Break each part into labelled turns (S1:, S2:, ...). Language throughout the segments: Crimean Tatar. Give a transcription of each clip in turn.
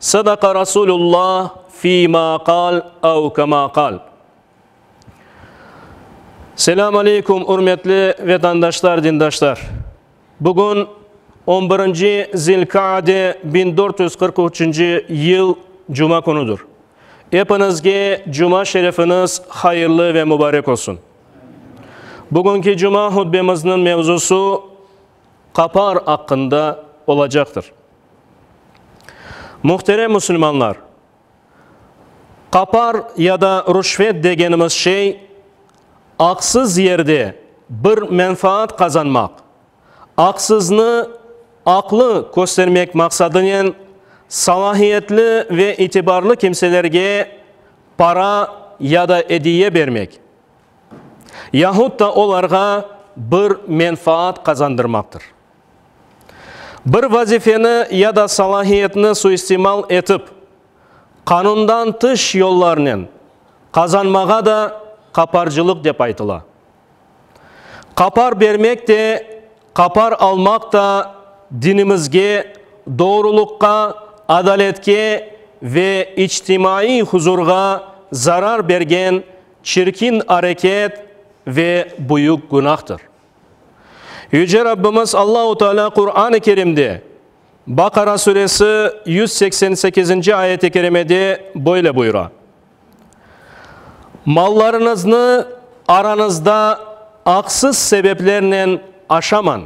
S1: Sadaqa Rasulullah fi ma qal ev kema qal. Selam aleykum ürmetli vetandaşlar dindaşlar. Bugün on birinci Zilkaade biñ dört yüz qırq üçünci yıl cuma künüdür. Epinizge cuma şerefiniz hayırlı ve mubarek olsun. Bugünki cuma hutbemizniñ mevzusı, Qapar aqqında olacaqtır. Muhterem musulmanlar, qapar ya da rüşvet degenimiz şey, aqsız yerde bir menfaat qazanmaq, aqsıznı aqlı köstermek maqsadınen salahiyetli ve itibarlı kimselerge para ya da ediye bermek, yahut da olarğa bir menfaat qazandırmaqtır. Bir vazifeni ya da salahiyetni suistimal etip, qanundan tış yollarnen qazanmağa da qaparcılıq dep aytıla. Qapar bermek de, qapar almaq da dinimizge doğrulıqqa, adaletke ve içtimaiy huzurğa zarar bergen Çirkin areket ve büyük günahtır. Yüce Rabbimiz Allahu Teala Quran-ı Kerimde, Bakara suresi yüz seksen sekizinci ayet-i kerimede böyle buyura, Mallarıñıznı aranızda aqsız sebeplernen aşamañ.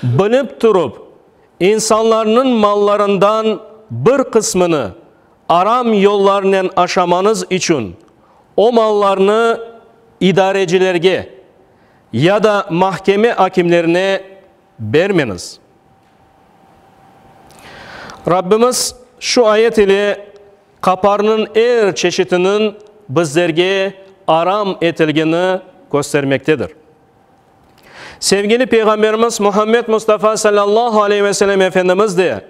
S1: Bilip turıp, insanlarnıñ mallarından bir qısmını aram yollarnen aşamañız içün o mallarnı idarecilerge ya da mahkeme akimlerine bermeñiz. Rabbimiz şu ayet ile qaparnıñ er çeşitiniñ bizlerge aram etilgeni köstermektedir. Sevgili Peyğamberimiz Muhammed Mustafa sallallahu aleyh ve sellem Efendimiz de,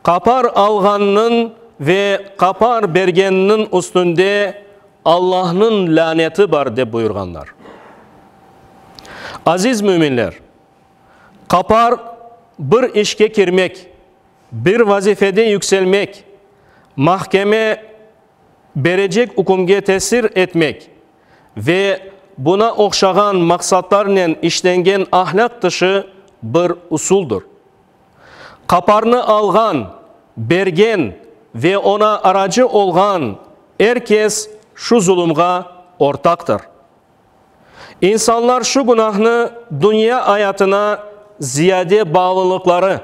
S1: Qapar alğannıñ ve qapar bergenniñ üstünde Allahnıñ lâneti bar, dep buyurğanlar. Aziz müminler, qapar, bir işke kirmek, bir vazifede yükselmek, mahkeme, berecek ükümge tesir etmek ve buna oqşağan maqsatlarnen işlengen ahlâq dışı bir usuldır. Qaparnı alğan, bergen ve oña aracı olğan er kes şu zulumğa ortaqtır. İnsanlar şu günahnı dünya ayatına ziyade bağlılıqları,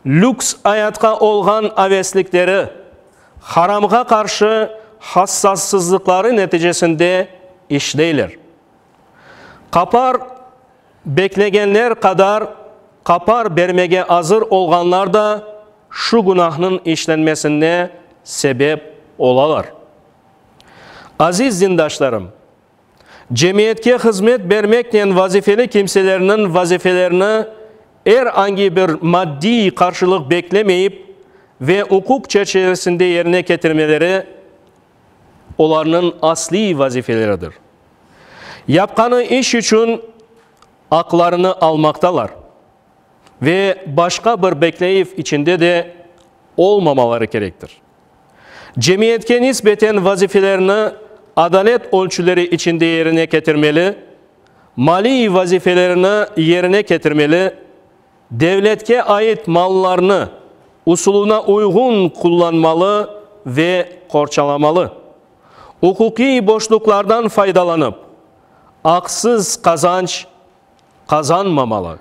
S1: lüks ayatqa olğan aveslikleri, haramğa qarşı hassassızlıqları neticesinde işleyler. Qapar beklegenler qadar qapar bermege azır olğanlar da şu günahnıñ işlenmesine sebep olalar. Aziz dindaşlarım! Cemiyetke hızmet bermeknen vazifeli kimselerniñ vazifelerini er angi bir maddiy qarşılıq beklemeyip ve uquq çerçivesinde yerine ketirmeleri olarnıñ asliy vazifeleridir. Yapqanı iş içün aqlarını almaqtalar ve başqa bir bekleyiv içinde de olmamaları kerektir. Cemiyetke nisbeten vazifelerni adalet ölçüleri içinde yerine ketirmeli, maliy vazifelerini yerine ketirmeli, devletke ait mallarnı usulına uyğun qullanmalı ve qorçalamalı, uquqiy boşluqlardan faydalanıp, aqsız qazanç qazanmamalı,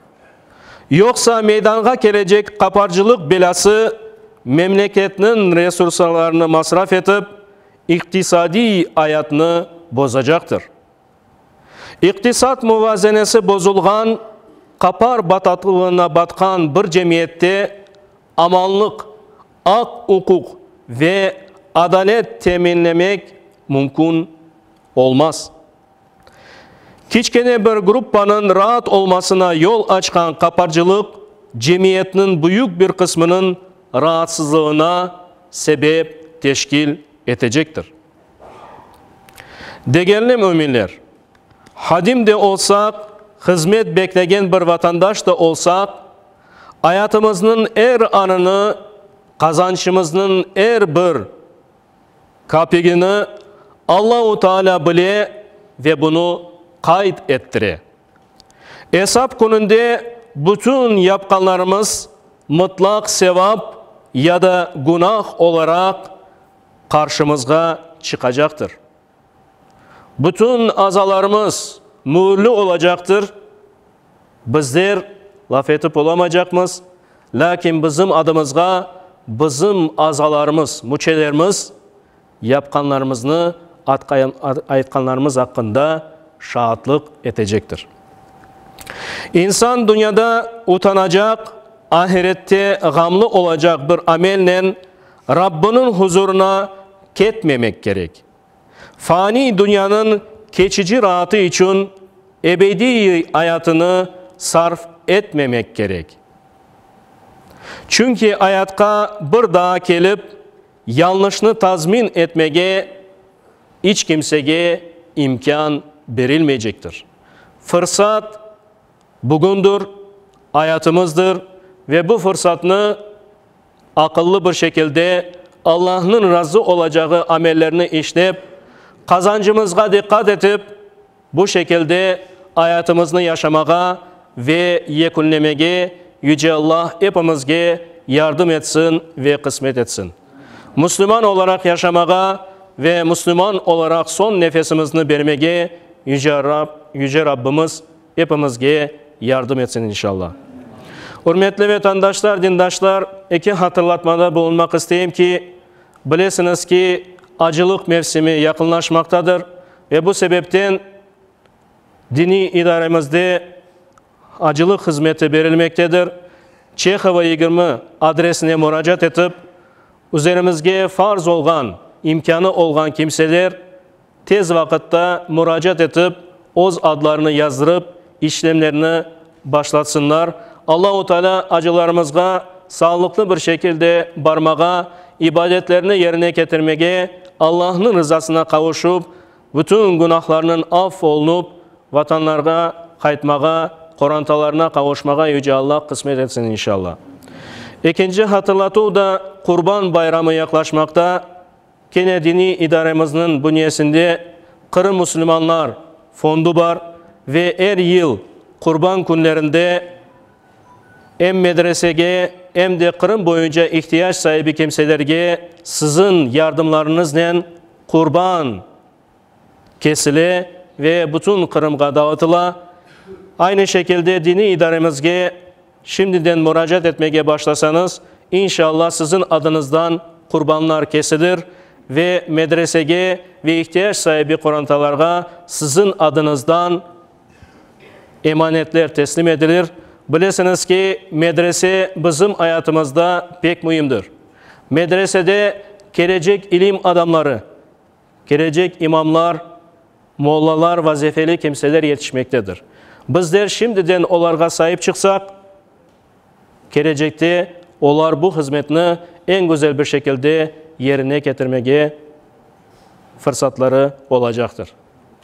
S1: yoqsa meydanğa kelecek qaparcılıq belâsı memleketniñ resurslarını masraf etip, iqtisadiy ayatnı bozacaqtır. İqtisat muvazenesi bozulğan, qapar batatlığına batqan bir cemiyette amanlıq, aq-uquq ve adalet teminlemek mümkün olmaz. Kiçkene bir gruppanıñ raat olmasına yol açqan qaparcılıq cemiyetniñ büyük bir qısmınıñ raatsızlığına sebep teşkil etecektir. Degerli müminler, hadim de olsaq, hızmet beklegen bir vatandaş da olsaq, ayatımıznıñ er anını, qazançımıznıñ er bir Kapigini Allahu Taalâ bile ve bunı qayd ettire. Esap kününde bütün yapqanlarımız mıtlaq sevap ya da günah olaraq qarşımızğa çıqacaqtır. Bütün azalarımız müürli olacaqtır, bizler laf etip olamaycaqmız, lâkin bizim adımızğa bizim azalarımız, müçelerimiz yapqanlarımıznı aytqanlarımız aqqında şaatlıq etecektir. İnsan dünyada utanacaq, ahirette ğamlı olacaq bir amelnen, Rabbınıñ huzurına ketmemek kerek. Faniy dünyanıñ keçici raatı içün ebediy ayatını sarf etmemek kerek. Çünki ayatqa bir daa kelip, yanlışnı tazmin etmege iç kimsege imkân berilmeycektir. Fırsat bugündir, ayatımızdır ve bu fırsatnı Aqıllı bir şekilde Allahnıñ razı olacağı amellerni işlep, qazancımızğa diqqat etip, bu şekilde ayatımıznı yaşamağa ve yekünlemege Yüce Alla epimizge yardım etsin ve qısmet etsin. Müslüman olaraq yaşamağa ve müslüman olaraq soñ nefesimizni bermege Yüce Rab, Yüce Rabbimiz epimizge yardım etsin inşalla. Ürmetli vetandaşlar, dindaşlar, eki hatırlatmada bulunmaq isteyim ki, bilesiñiz ki, acılıq mevsimi yaqınlaşmaqtadır ve bu sebepten diniy idaremizde acılıq hızmeti berilmektedir. Çehova yigirmi adresine muracaat etip, üzerimizge farz olğan, imkânı olğan kimseler, tez vaqıtta muracaat etip, öz adlarını yazdırıp, işlemlerini başlatsınlar. Allahu Teala acılarımızğa sağlıqlı bir şekilde barmağa, ibadetlerini yerine ketirmege, Allahnıñ rızasına qavuşıp, bütün günahlarınıñ aff olunup, vatanlarına qaytmağa, qorantalarına qavuşmağa Yüce Allah qısmet etsin, inşallah. Ekinci hatırlatuv da, Qurban bayramı yaqlaşmaqta. Kene diniy idaremizniñ bünyesinde Qırım müsülmanlar fondu bar ve er yıl Qurban künlerinde em medresege, em de Qırım boyunca ihtiyac saibi kimselerge siziñ yardımlarıñıznen Qurban kesile ve bütün Qırımğa dağıtıla. Aynı şekilde diniy idaremizge Şimdiden muracaat etmege başlasañız, inşalla siziñ adıñızdan qurbanlar kesilir ve medresege ve ihtiyac saibi qorantalarğa siziñ adıñızdan emanetler teslim edilir. Bilesiñiz ki, medrese bizim ayatımızda pek müimdir. Medresede kelecek ilim adamları, Kelecek imamlar, mollalar, vazifeli kimseler yetişmektedir. Bizler şimdiden olarğa saip çıqsaq, kelecekte olar bu hızmetni eñ güzel bir şekilde yerine ketirmege fırsatları olacaqtır.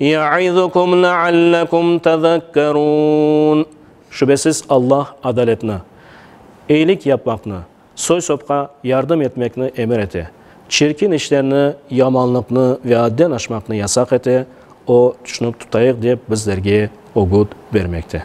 S1: Ya'izukum leallekum tezekkerûn. Şübesiz Alla adaletni, eyilik yapmaqnı, soy-sopqa yardım etmekni emir ete, çirkin işlerni, yamanlıqnı ve adden aşmaqnı yasaq ete, O, tüşünip tutayıq dep bizlerge ögüt bermekte.